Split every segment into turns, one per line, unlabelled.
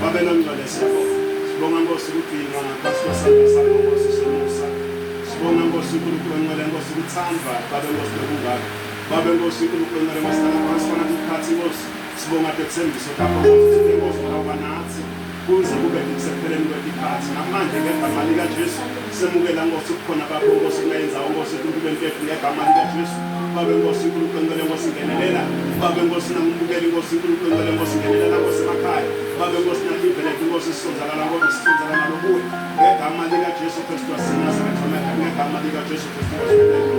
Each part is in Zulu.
Babe nongcwele siyabonga. Sibonga Nkosi ukugcinwa ngaphansi kwesandla sakho Nkosi somusa. Sibonga Nkosi uNkulunkulu ongcwele Nkosi ukuthandwa Babe Nkosi nokungaka. Babe Nkosi uNkulunkulu ongcwele Nkosi sithanda phansi phakathi isikhathi Nkosi. Sibonga dethembiso lakho Nkosi sibe Nkosi ngoba nathi kuze kube kusekupheleni kwekhathi. Namanje ngegama likaJesu Semukela Nkosi kukhona bakho Nkosi kunayenzawo Nkosi uNkulunkulu wempefu ngegama likaJesu Babe Nkosi uNkulunkulu ngicela Nkosi ngenelela Babe Nkosi nangibukeli Nkosi uNkulunkulu ngicela Nkosi ngenelela Nkosi emakhaya Babe Nkosi nangivelele Nkosi sisonzakala ngoba sisonzakala nokuwe ngegama likaJesu Kristu waseNazaretha ngegama likaJesu Kristu waseNazaretha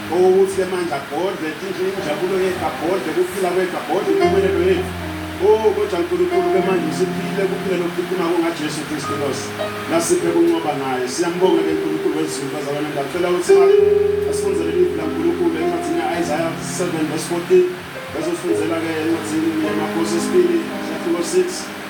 Okuhle mandla Godle, tinhle injabulo yeka Godle, kuphila kweka Godle, impumelelo yethu. Oh kodwa Nkulunkulu ke manje siphile kuphile lokukhiphuma kungaJesu Kristu Nkosi. Nasiphe kuncoba naye. Siyambonga ke Nkulunkulu wezulu bazalwane ngacela ukuthi asifundele iBhayibheli laNkulunkulu encwadini yaIsaiah 7 verse 14. Bezosifundela ke encwadini yaMakhosi esibili, chapter 6.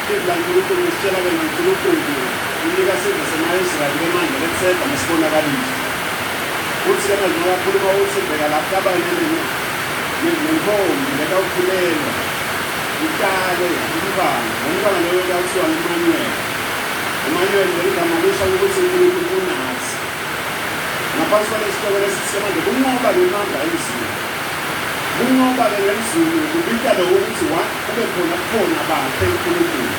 Izwi laNkulunkulu lisitshela ke noNkulunkulu unika isizwe semaIsrayeli ke manje lethemba
nesibonakaliso. Uthi ke manje ngoba akhuluma uthi bheka lapha abanye nini nentombi lekawukhulelwa italwe umntwana lomntwana loyo kuyakuthiwa ngumanuel umanuel leli gama lisho ukuthi unkulunkulu unathi ngaphansi kwalesihloko lesithi manje kunqoba ngemanga emzulu kunqoba-ke ngemzulu kubika lowo ukuthi Kube khona ubukhona bakhe uNkulunkulu.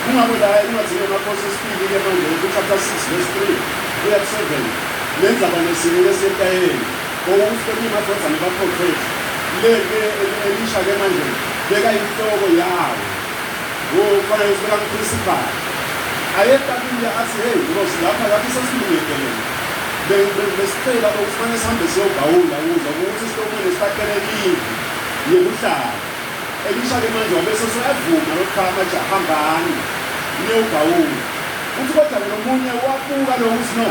Kungako la encwadini yaMakhosi yesibili ke manje uthi chapter 6 verse 3 kuya ku 7 nenza banesini lesentayeni owukuhlonipha amadodana baprofethi le ke elisha ke manje beka inhloko yawo ngokufana nesibeka ngiprinsipali ayekabile athi hey nkosi lapha lapho sesilungekelele besicela ukuthi fanele sihambe siyogawula ukuze ukuthi sihlomile sifakelekile yekuhlala Elisha-ke manje wabe eseseyavuma lokuthaa amaja hambani niyogawula. Uthi kodwa-ke nomunye wabuka lokhu uthi no,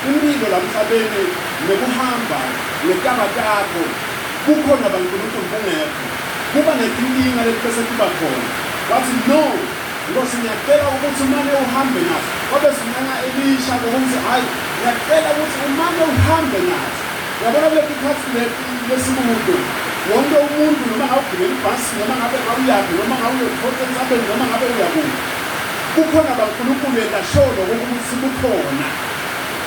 impilo la mhlabeni nokuhamba ngetaba takho bukhona baNkulunkulu bungekho kuba netinkinga letibese tiba khona. Watsi no, Nkhosi ngiyacela ukuthi umane uhambe nathi. Wabe esincenga Elisha-ke ukuthi hhayi, ngiyacela ukuthi umane uhambe nathi. Yabona kuleli khathi lesibundo wonke umuntu noma ngawugibela ibhasi noma ngabe awuyaphi noma ngawuyothola entsabeni noma ngabe uyakuphi kukhona bankulunkulu engasholo kokuthi kukhona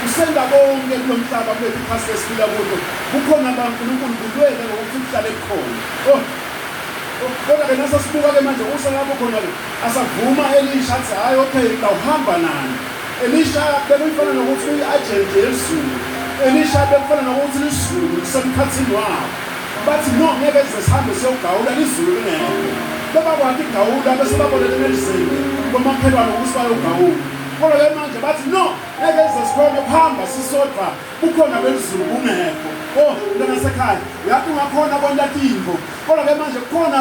usenda konke kulo mhlaba kuleli phasi lesiphila kulo kukhona bankulunkulu kulwele ngokuthi kuhlale kukhona oh, oh, kodwa ke nasasibuka-ke manje usalapho khona-ke asavuma elisha athi hhayi okay ngawuhamba nani Elisha bekuyifana nokuthi uyi-ajenti yezulu. Elisha bekufana nokuthi lizulu lisemkhathini wabo. Bathi, No, ngeke size sihambe siyogawula lizulu lingekho. Bebakwakha igawula bese baboleka emenzini komakhelwane ukuthi bayogawula. Kodwa-ke manje bathi, No, ngeke size sikhone ukuhamba sisodwa bukhona belizulu bungekho. O, mntwana sekhaya, uyathi ungakhona kwenta tintfo. Kodwa-ke manje kukhona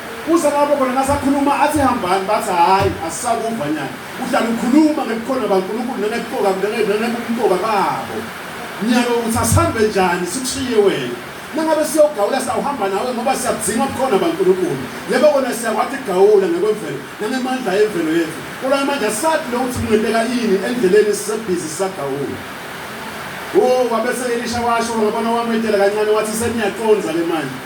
Kuze kwaba khona nasakhuluma athi hambani bathi hhayi asisakuva nyana uhlala ukhuluma ngebukhona bankulunkulu nangebuqoka nangebumqoka babo nyaka ukuthi asihambe njani sikushiye wena nangabe siyogawula sawuhamba nawe ngoba siyakudzinga bukhona bankulunkulu yebo kona siyakwathi kugawula ngekwemvelo nangemandla emvelo yethu kodwa amandla sathi lokuthi kungenteka yini endleleni sisebhizi sisagawula o wabese elisha washo ngabona wametela kancane wathi seniyaqonza le manje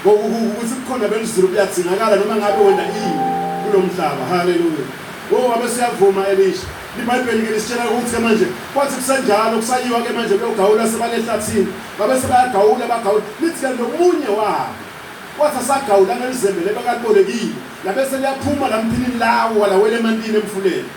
Ngokukubi ukuthi ubukhona belizulu buyadingakala noma ngabe wena ini kulo mhlaba. Haleluya! O, ngabe siyavuma, Elisha. IBhayibheli-ke lisitshela ukuthi-ke manje, kwathi kusenjalo, kusayiwa-ke manje kuyogawula, sebale ehlathini. Ngabe sebayagawula, bagawula. Lithi-ke nomunye wabo wathi asagawula ngelizembe lelo akalibolekile, labe seliyaphuma la mphinini lawo, walawela emantini emfuleni.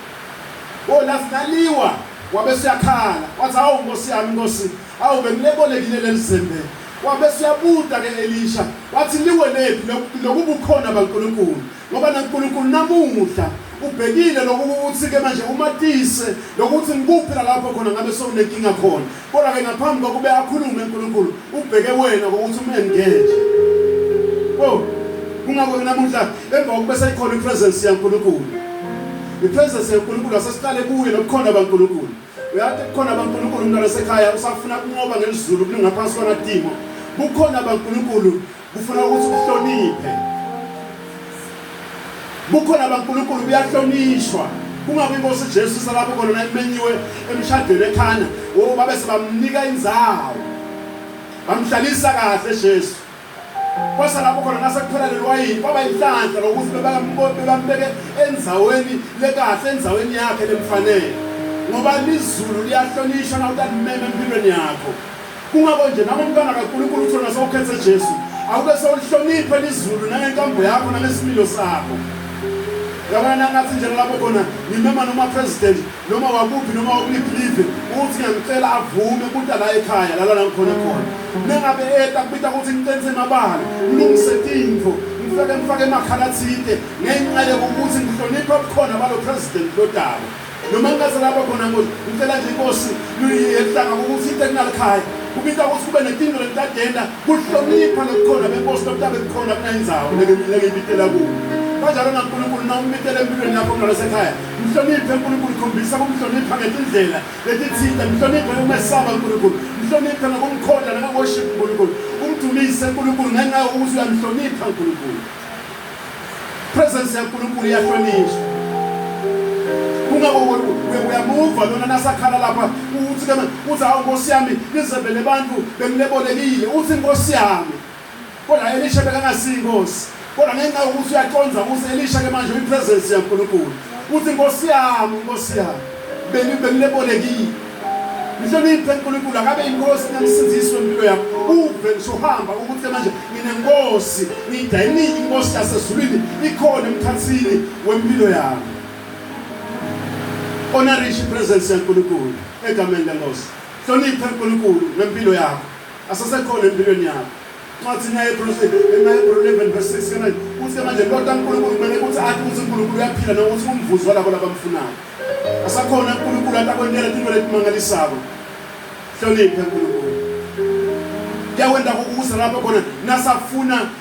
O, lathi naliwa, wabe seyakhala, wathi, Hawu, Nkosi yami, Nkosi! Hawu, bengilebolekile leli zembe. Wabe eseyabuta-ke Elisha, wathi, Liwenephi loku, lokubukhona baNkulunkulu? Ngoba naNkulunkulu namuhla ubhekile lokhu kukuthi-ke manje umatise lokuthi ngikuphi lalapho khona ngabe sewunenkinga khona. Kodwa-ke ngaphambi kokube akhulume uNkulunkulu, ubheke wena kokuthi umengenje. O, kungakho-ke namuhla emva kokuba seyikhona ipresence yaNkulunkulu, ipresence yaNkulunkulu asesiqale kuye nobukhona baNkulunkulu. Uyathi kukhona abankulunkulu umntwana osekhaya usafuna kunqoba ngelizulu kulingaphansi kwamadimo. Kukhona abankulunkulu kufuna ukuthi uhloniphe. Kukhona abankulunkulu kuyahlonishwa. Kungabe inkosi Jesu salapho khona nayimenyiwe emshadweni ekhana, oh babe sebamnika inzawo. Bamhlalisa kahle Jesu. kwasalapho khona nasekuphela leliwayini kwaba yinhlanhla lokuthi bebambeke endzaweni lekahle endzaweni yakhe lemfanele ngoba lizulu liyahlonishwa nawutalimema empilweni yakho kungako nje nangomntwana kankulunkulu uthiwe nasewukhethe jesu awube sewulihloniphe lizulu nangenkambo yakho nangesimilo sakho yabona nangathi njengalapho khona ngimema noma president Noma wakuphi noma wakuliphi live uthi ngiyamcela avume kuta la ekhaya lala la ngikhona khona. Mengabe eta kubita ukuthi ngicenise mabala, ngilungise tintfo, ngifeke ngifake emakhala tsite ngenca yekukuthi ngihlonipha ubukhona balo president lodaba. Noma ngingase lapha khona ngo ngicela nje inkosi yehlanga ukuthi inte kunalikhaya kubita ukuthi kube netintfo letitadenta kuhlonipha lobukhona benkosi lobutabe bukhona kunayindzawo lekebitela kuyo. Kanjalo naNkulunkulu nawumbitela empilweni yakho ngalesekhaya Mhloniphe uNkulunkulu, khombisa ukumhlonipha ngetindlela letitsite. Mhloniphe ukumesaba uNkulunkulu, mhloniphe ngokumkhonda nangokuworship uNkulunkulu, umdumise uNkulunkulu ngenxa yokuthi uyamhlonipha uNkulunkulu. Presence yaNkulunkulu iyahlonishwa. Kungako uyamuva lona nasakhala lapha uthi ke uthi hawu Nkosi yami nizebele abantu bengilebolekile uthi Nkosi yami Kodwa Elisha bekangasiyi inkosi. Kodwa ngenxa yokuthi uyaconza ukuthi Elisha ke manje uyipresence yaNkulunkulu. Uthi inkosi yami, inkosi yami. Beni bengilebolekile. Ngihloniphe uNkulunkulu akabe inkosi namsindiswe impilo yakho. Uve ngisho uhamba ukuthi manje nginenkosi, ngidayinile inkosi yasezulwini ikhona emkhathini wempilo yami. Honorish presence yaNkulunkulu egameni lenkosi. Hloniphe uNkulunkulu ngempilo yakho. Asasekhona empilweni yakho. Incwadi naye Hebrews ema Hebrews 11 verse 6 kana uthi manje kodwa uNkulunkulu kumele ukuthi athi ukuthi uNkulunkulu uyaphila nokuthi umvuzo walabo labamfunayo. Asakhona uNkulunkulu atakwentela into letimangalisako. Hloniphe uNkulunkulu. Kuyawenda ukusa lapho khona nasafuna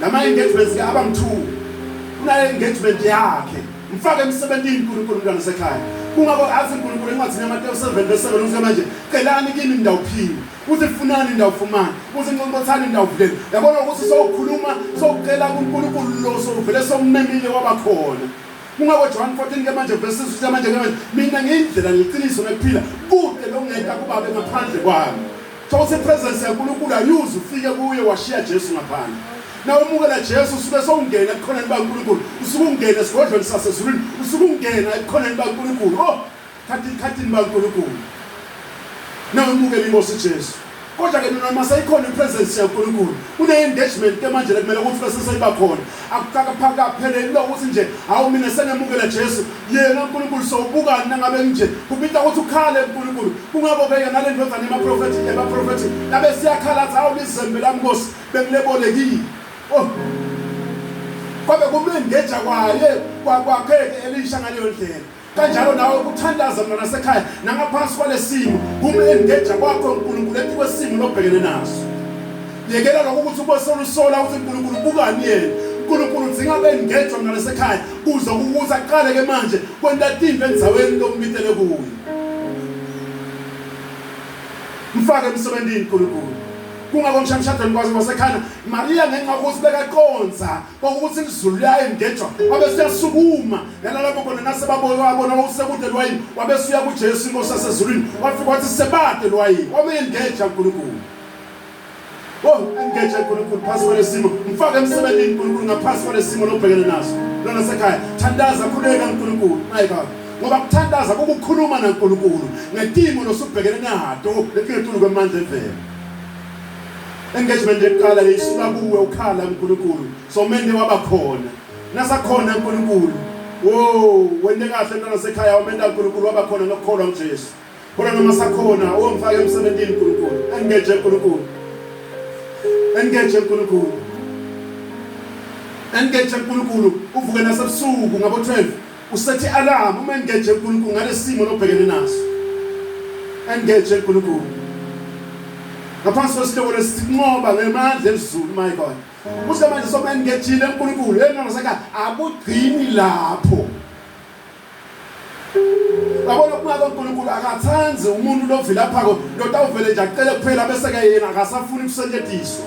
Nama engagements ke aba mthuku. Kunale engagement yakhe. Mfake emsebenzini uNkulunkulu umntwana sekhaya. Kungako athi uNkulunkulu encwadini yaMateyu 7 verse 7 uthi manje celani kimi nindawuphiwe. Uthi funani ndawufumana. Uthi nqonqothani ndawuvuleni. Yabona ukuthi sowukhuluma sowucela kuNkulunkulu lo sowuvele somemile wabakhona. Kungako John 14 ke manje verse 6 uthi manje ke manje mina ngiyindlela ngiqiniso nekuphila kude longenda kubabe ngaphandle kwami. Thokoza ipresence yaNkulunkulu ayuze ufike kuye washiya Jesu ngaphandle. Na umukela Jesu usuke sowungena ebukhoneni baNkulunkulu, usuke ungena esigodlweni sasezulwini, usuke ungena ebukhoneni baNkulunkulu. Oh, thatha ikhathini baNkulunkulu. Na umukela inkosi Jesu. Kodwa ke noma seyikhona ipresence yaNkulunkulu, une engagement ke manje lekumele ukuthi bese seyiba khona. akukakapheleli lokho ukuthi nje hawu mina sengemukele jesu yena unkulunkulu sowubukani nangabe kunje kubita ukuthi ukhale unkulunkulu kungako-ke yena le ndodana emaprofethi emaprofethi labe siyakhala athi hawu lizembe lami nkosi bengilebolekile oh kwabe kumlengeja kwaye kwakwakhe-ke elisha ngaleyo ndlela kanjalo nawe ukuthandaza mntwana sekhaya nangaphansi kwalesimo kumengeja kwakho uNkulunkulu ethi kwesimo lobhekene naso yekela lokho ukuthi ube solusola ukuthi uNkulunkulu ubukani yena uNkulunkulu udzinga bengejwa mntwana sekhaya kuze ukuthi aqale ke manje kwenta tinto endzaweni lokumitele kuyo mfake emsebenzini uNkulunkulu kungako mshamshadweni kwaze kwasekhana Maria ngenxa ukuthi bekaqondza kwakukuthi ilizulu liyayengejwa wabe siyasukuma nalapho khona nasebaboke wabona wawusekude lwayini wabe suya kujesu inkosi yasezulwini wafika wathi sebade lwayini wameyengeja unkulunkulu Oh, engage uNkulunkulu phasi kwalesimo. Mfake emsebenzini uNkulunkulu ngaphansi kwalesimo lobhekene naso. Lona sekhaya, thandaza khuleka uNkulunkulu. Hayi baba. Ngoba kuthandaza kukukhuluma naNkulunkulu ngetimo losubhekene nato letingetulu kwemandla evela. engagement yokuqala yayisuka kuwe ukhala uNkulunkulu so mende waba khona nasakhona uNkulunkulu wo wende kahle ntwana sekhaya wamenda uNkulunkulu waba khona nokukholwa nguJesu kodwa noma sakhona owamfaka emsebenzini uNkulunkulu engage uNkulunkulu engage uNkulunkulu engage uNkulunkulu uvuke nasebusuku ngabo 12 Usethi alarm uma engage uNkulunkulu ngalesimo lobhekene naso. Engage uNkulunkulu. Ngaphansi kwesihloko lesinqoba ngemandla ezulu my God. Kuze manje soba engejile uNkulunkulu engangasaka akugcini lapho. Yabona kungabe uNkulunkulu akathandi umuntu lovila phako lotawuvele nje acele kuphela bese ke yena akasafuni kusetshenziswa.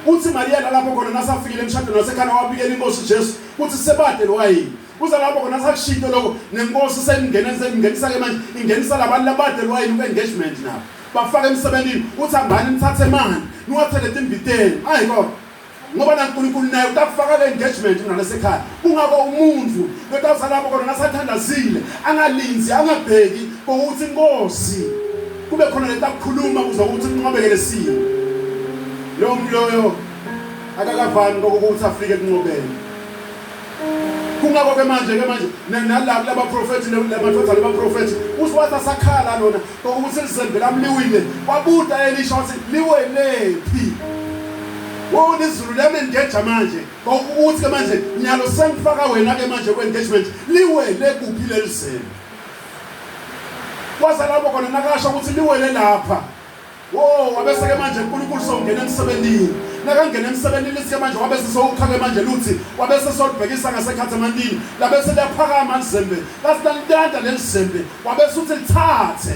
Uthi Mariya lalapho khona nasafikile emshadweni wasekhana wabikela inkosi Jesu Kuthi sebade lo wayini. Kuza lapho khona sakushintsho lokho nenkosi seyingena seyingenisa ke manje ingenisa labantu labade lo wayini ku-engagement nabo. Bafaka emsebenzini uthi hambani nithathe manje niwathele timbiteni. Hayi kodwa ngoba nankulunkulu naye utakufaka le-engagement mina lasekhaya kungako umuntu lotawusalapho kona nasathandazile angalinzi angabheki kokuthi inkosi kube khona letakukhuluma kuze ukuthi kunqwabeke lesimo loyo mntu loyo akakavami kokukuthi afike ekunqobeni kungakho-ke manje-ke manje nala kulaba profethi lamadoda lamaprofethi usiwathi asakhala lona kokuthi lizembe lami liwile wabuda elisha wathi liwelephi wona izulu liyalengeja manje kokuthi-ke manje nyalo sengifaka wena-ke manje kwe-engagement liwele kuphi leli zembe kwazalabo khona nakasho ukuthi liwele lapha Wo, wabese-ke manje uNkulunkulu sewungena emsebenzini. Nakangena emsebenzini lithi-ke manje wabe sesewukha-ke manje luthi wabe sesolibhekisa ngasekhathemantini labe seliyaphakama lizembe lathi nalintanta leli zembe wabe suthi lithathe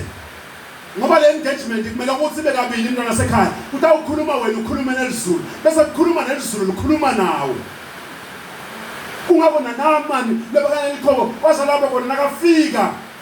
ngoba le engagement kumele ukuthi ibe kabili into nasekhaya kuthi awukhuluma wena ukhulume nelizulu bese kukhuluma nelizulu likhuluma nawe kungabona namani lebakana likhobo waze laba kona nakafika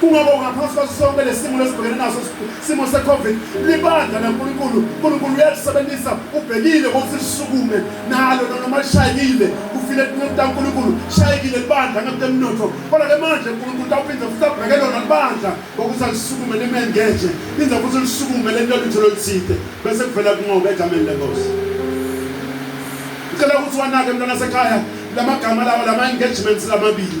Kungoko ngaphansi kwaso sonke lesimo lesibhekene naso simo seCovid libandla laNkulunkulu, uNkulunkulu uyalisebenzisa ubhekile ukuthi lisukume nalo noma lishayekile kufile kuNkulunkulu shayekile libandla ngakutemnotho. Kodwa ke manje uNkulunkulu utawuphinde futhi abheke lona libandla ngokuthi alisukume limengeje, phinde futhi lisukume lento lutho loluthide bese kuvela kunqoba egameni leNkosi. Ngicela ukuthi wanake mntwana sekhaya lamagama lawo lama engagements lamabili.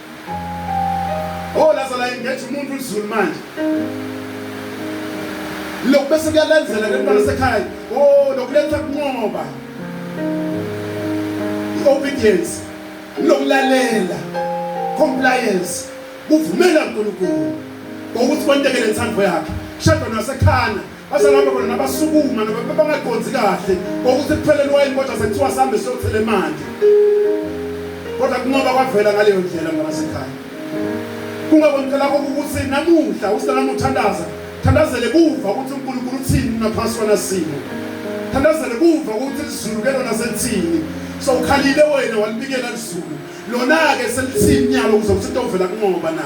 Oh laza la engage umuntu uZulu manje. Lokhu bese kuyalandzela ke mntwana sekhaya. Oh lokuletha kunqoba. Obedience. Lokulalela. Compliance. Kuvumela uNkulunkulu. Ukuthi kwentekele inthando yakhe. Shadwa nasekhana basalapha khona nabasukuma nabangaqondi kahle kokuthi kuphelele wayini kodwa sekuthiwa sihambe siyothela emanti kodwa kungoba kwavela ngaleyo ndlela ngabasekhaya kungakonela kokuthi namuhla uselama uthandaza thandazele kuva ukuthi uNkulunkulu uthini ngaphansi kwanasimo thandazele kuva ukuthi izulu ke lona selithini so ukhalile wena walibikela izulu lona ke selithini nyalo kuzokuthi into ovela kungoba na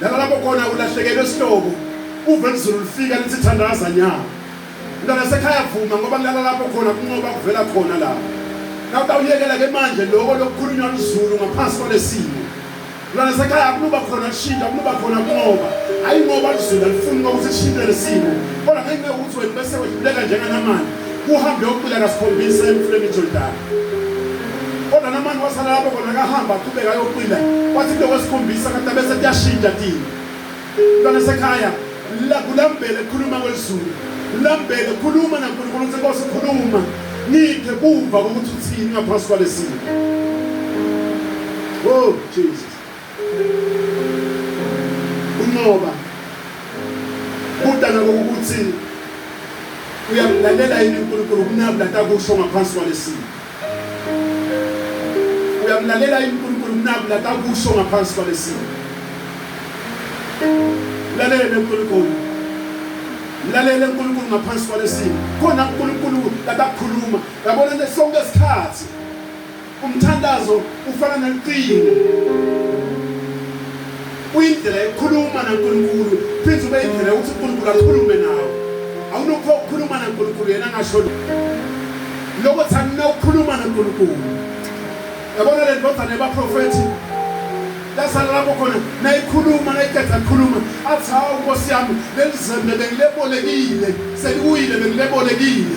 Nalalapho khona ulahlekelwe isihlobo uve lizulu lifika lithi thandaza nyawo. Mntwana sekhaya vuma ngoba kulala lapho khona kunqoba kuvela khona la. Nawutawuyekela ke manje lokho lokukhulunywa lizulu ngaphansi kwalesimo. Mntwana sekhaya akunuba khona kushintsha akunuba khona kunqoba. Hayi ngoba lizulu alifuni ukuthi kushintshe lesimo. Kodwa ngenxa yokuthi wena bese wedluleka njenganamanje uhambe yokucela kasikhombisa emfuleni iJordani. kodwa namani wasala lapho khona kahamba aqhubeka ayoqina kwathi into kwesikhombisa kanti abese kuyashintsha kini mntwana sekhaya kulambele khuluma kwelizulu lambele khuluma nankulunkulu ukuthi nkosi khuluma ngiphe kuva kokuthi uthini ngaphansi kwalesimo oh jesus Unqoba kudala kokuthi uyamlalela yini uNkulunkulu kunami lata kusho ngaphansi kwalesimo uyamlalela yini uNkulunkulu kunami lata kusho ngaphansi kwalesimo lalela uNkulunkulu lalela uNkulunkulu ngaphansi kwalesimo khona uNkulunkulu akakhuluma yabona sonke isikhathi Umthandazo ufana nocingo, uyindlela yokukhuluma naNkulunkulu, phinde ube indlela yokuthi uNkulunkulu akhulume nawe. Awunokho ukukhuluma naNkulunkulu yena angasho lokho thani nawukhuluma naNkulunkulu. Yabona le ndodana yabaprofethi lasala lapho khona nayikhuluma nayiqeda khuluma athi hawu nkosi yami leli zembe bengilebolekile seliwile bengilebolekile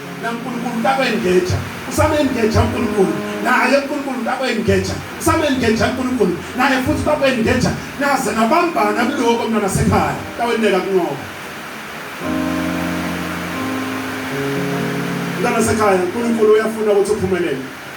na nkulunkulu u ta ku engheja u same engheja nkulunkulu naye nkulunkulu u ta ku engheja u same engheja nkulunkulu naye futhi u ta ku engheja naze nabambana kuloko mntwana sekhaya ta ku endleka kunoko mntwana sekhaya nkulunkulu uyafuna ukuthi uphumelele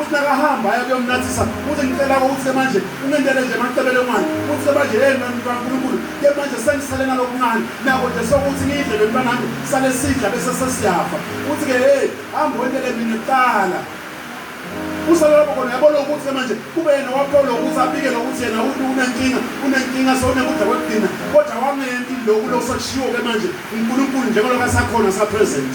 Uthi nakahamba aya kuyomnathisa uthi ngicela ukuthi ke manje ungentele nje macebele manje uthi ke manje hey mfana kaNkulunkulu ke manje sengisale nalokuncane nako nje sokuthi ngidle le mfana nami sale sidla bese sesiyafa uthi ke hey hamba wentele mina kuqala usala lapho khona yabona ukuthi manje kube yena waphola ukuthi abike lokuthi yena unenkinga unenkinga sewunekudla kwekudina kodwa wangenti loku lokusashiwo-ke manje unkulunkulu njengalokho asakhona sapresent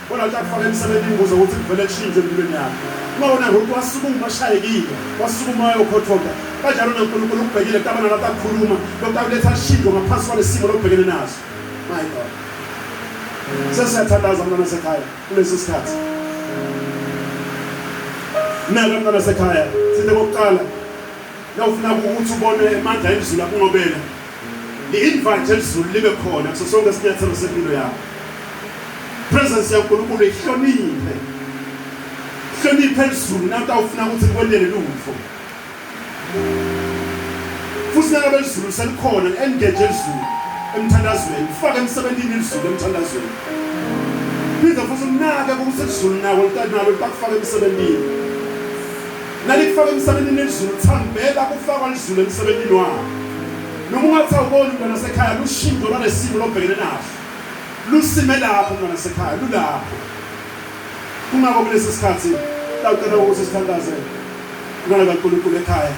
Khona ukuthi akufake emsebeni imbuzo ukuthi kuvele kushintshe empilweni yakhe. Uma wona ngokuthi wasukuma ashayekile, wasukuma wayokhothoka. Kanjalo noNkulunkulu ukubhekile kutabana lapho akhuluma, lokhu akuletha shintsho ngaphansi kwalesimo lokubhekene naso. My God. Sesiyathandaza mntwana sekhaya kulesi sikhathi. Naka mntwana sekhaya, sithe kokuqala nawufuna ukuthi ubone amandla emzulu akungobela Ngi-invite elizulu libe khona kuso sonke isinyathelo sempilo yakho. Presence yaNkulunkulu ihloniphe. Hloniphe elizulu nanto awufuna ukuthi likwendele lutho. Futhi nangabe elizulu selikhona engage elizulu emthandazweni, ufake emsebenzini elizulu emthandazweni. Phinde futhi unake ukuthi elizulu nawo litanalo bakufake emsebenzini. Nalikufaka emsebenzini nezulu thambela kufakwa lizulu emsebenzini wakho. Noma ungathi awuboni mntwana sekhaya lushintsho lwalesimo lobhekene naso. Lusime lapho mntwana sekhaya lulapho. Kungako kulesi sikhathi lacela ukuthi sithandaze kulona kaNkulunkulu ekhaya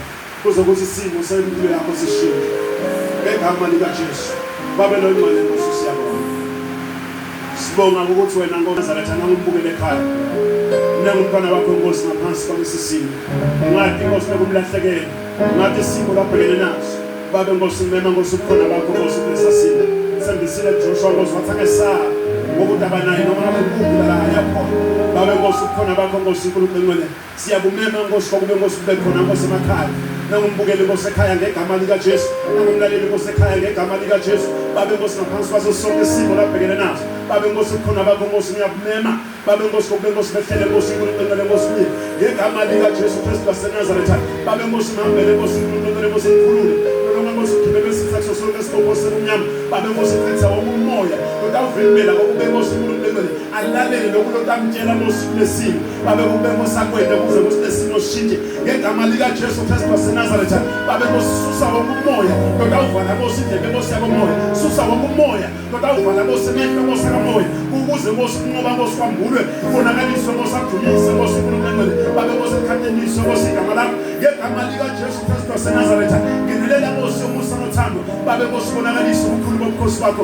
kuze ukuthi isimo sempilo yakho sishintshe. Ngegama likaJesu. Babe longcwele Nkosi siyabonga. Sibonga ukuthi wena Nkosi Nazarethana umbukele ekhaya. Mina ngumntwana wakho Nkosi ngaphansi kwalesi simo. Ngathi Nkosi nokumlahlekela. Ngathi isimo labhekene naso. Babe Nkosi mema Nkosi ukhona bakho Nkosi kulesa simo. Sembisile Joshua Nkosi wathi angesaba ngokuthi abanayo noma akukuphi la yakhona. Babe Nkosi ukhona bakho Nkosi uNkulunkulu engcwele. Siyakumema Nkosi kwakube Nkosi kube khona Nkosi emakhaya nangumbukeli Nkosi ekhaya ngegama likaJesu nangumlaleli Nkosi ekhaya ngegama likaJesu babe Nkosi ngaphansi kwaso sonke isimo labhekene naso babe Nkosi ukhona bakho Nkosi ngiyakumema babe Nkosi kokube Nkosi behlele Nkosi uNkulunkulu Nkosi kimi ngegama likaJesu Kristu waseNazaretha babe Nkosi ngihambele Nkosi uNkulunkulu Nkosi ngikhulule noma Nkosi ukhiphe besithathu sonke isibongo sekumnyama babe Nkosi qinisa wonke umoya lotawuvimbela kokube Nkosi uNkulunkulu alalele lokhu lotamtshela Nkosi kulesimo babe kubemo sakwethu ukuze ukuthi lesimo sishintshe ngegama likaJesu Kristu waseNazaretha babe kususa wonke umoya kodwa uvala bosi indlebe bosi yakomoya susa wonke umoya kodwa uvala bosi emehlo bosi kamoya ukuze bosi kunqoba bosi kwambulwe konakaliswe bosi adumise bosi uNkulunkulu babe bosi ekhathenise bosi igama lakho ngegama likaJesu Kristu waseNazaretha ngenelela bosi umusa nothando babe bosi konakaliswe ukhulu bomkhosi wakho